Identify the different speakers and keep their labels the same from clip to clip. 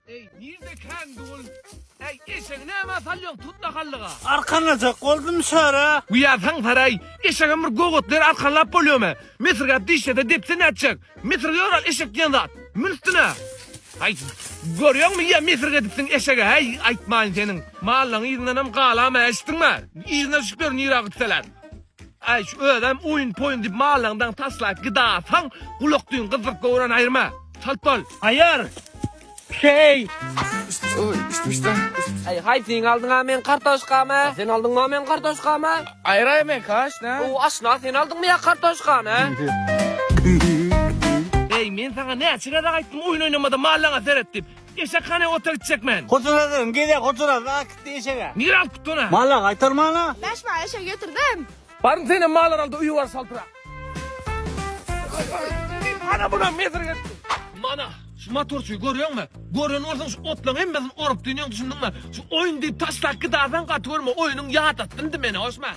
Speaker 1: Eý, nirde kän dul? Eý, eşegi näme salýoň tutla hallyga? Arkanlajak boldum
Speaker 2: şara. Uýasaň saray,
Speaker 1: eşegem bir gowgatlar arkanlap bolýamy? Mesirgäp dişlese depse nätjek? Mesirge ýoral eşek diýen zat. Mün üstüne. Aý, görýäňmi ýa mesirgedipsiň eşege, äý, aýtmaýyn seniň. Mallaň yzyndanam galama, eşitdiňmi? Yzyna düşüpler nirä gitseler. Aý şu özem oýun poýun diýip mallaň daň taslap gidasaň gulak düýn gyzdyryp göwren aýyrma. Çalt bol. Aýyr.
Speaker 2: Şeý. Oý üst üste.
Speaker 3: Aý haý seň aldyňa men kartoşkamy? Sen aldyňa men kartoşkamy? Aýyraý men kaş
Speaker 4: nä? O aşna sen aldyňmy
Speaker 3: ýa kartoşkany?
Speaker 1: Eý men saňa näçe gezek aýtdym oýun oýnamada mallaňa seret diýip. Eşek hany ota gitjek men. Huzura dön gezek
Speaker 2: huzura zat gitdi eşege. Nir alyp gitdi ona. Malla
Speaker 1: gaýtarmana.
Speaker 2: Bäş baý eşek
Speaker 5: getirdim. Baryň senem malar
Speaker 1: alda uýa bar salpyrak. Ana buna mesir getdi. Mana şu motorçyy görýäňmi? Gören bolsaň şu otlaň hemmesini orup dünýäň düşündiňmi? Şu oýun diýip taşlap gidasaň gaty görme oýunyň ýadatsyn indi meni hoşma.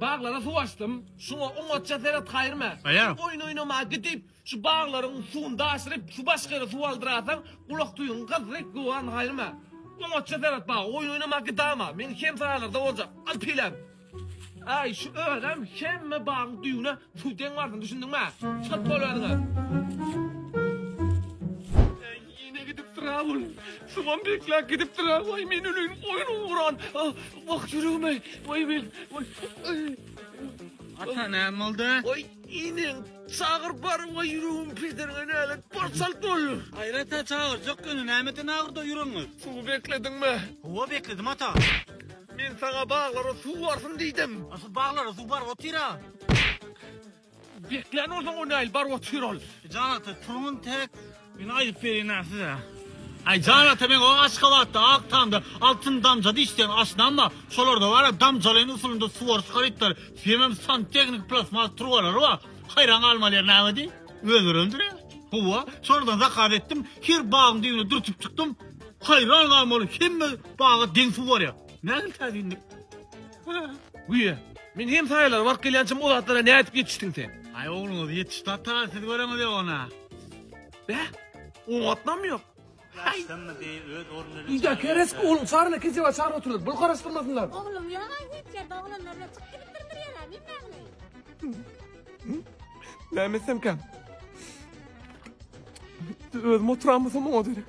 Speaker 1: Baglara suw açdym. Şuňa oňatja seret Haýrime. Aýa. Sen oýun oýnama
Speaker 2: gidip,
Speaker 1: şu baglaryň suwuny daşyryp, şu başga ýere suw aldyrasaň, gulak düýbiň gyzdyryp göwän Haýrime. Oňatja seret baga, oýun oýnama gidama. Meň hemsaýalarda boljak. Al pilem. Aý, şu özem hemme bagyň düýbüne suw deň barsyn, düşündiňmi? Çalt bol özüňem. Ine gidip dura ol. Şuňam bekläp gidip dura. Waý men öleyim. Oýun uran. Wah ýüregime. Waý men.
Speaker 2: Ata näme boldy? Waý iniň
Speaker 1: çagyr bar waý ýüregim pederine nälet bar çalt bol. Aýrata çagyrjak
Speaker 2: ýöne nämeden agyrda ýüregiňiz? Suwy beklediňmi?
Speaker 1: Hawa bekledim ata.
Speaker 2: Men saňa
Speaker 1: baglara suw barsyn diýdim. Asl baglara suw bar
Speaker 2: otyr-a. Beklän
Speaker 1: bolsaň o näl bar otyr ol. Jan ata turuň
Speaker 2: täk men aýdyp berýinä size. Aý jan ata men o Aşgabatda ak tamda altyn damja dişden aşnam bar şolarda bara damjalaýyn usulynda suwaryş harytlary hemem santehniki plastmas turbalary bar haýran galmaly ýer näme diý öz örändir ýa howa şolardan zakaz etdim her bagyň düýbüne dürtüp çykdym haýran galmaly hemme baga deň suw barýa nähili täsinlik.
Speaker 1: Güýe, men hem saýalar baryp gelýänçäm o zatlara nädip ýetişdiň sen? Aý ogluňyz ýetişdi
Speaker 2: ata, siz göreňiz ýok ony. Bä,
Speaker 1: oňatmam ýok.
Speaker 2: Ýa kereski ogluň
Speaker 1: çaryna keseba çaryp oturlar, bul garaşdyrmasynlar. Oglum ýok aý hiç
Speaker 5: ýerde oglanlar bilen çykyp gidip birdir ýere, men nähili?
Speaker 1: Näme etsemkäm? Özüm oturanmasam oňa derek.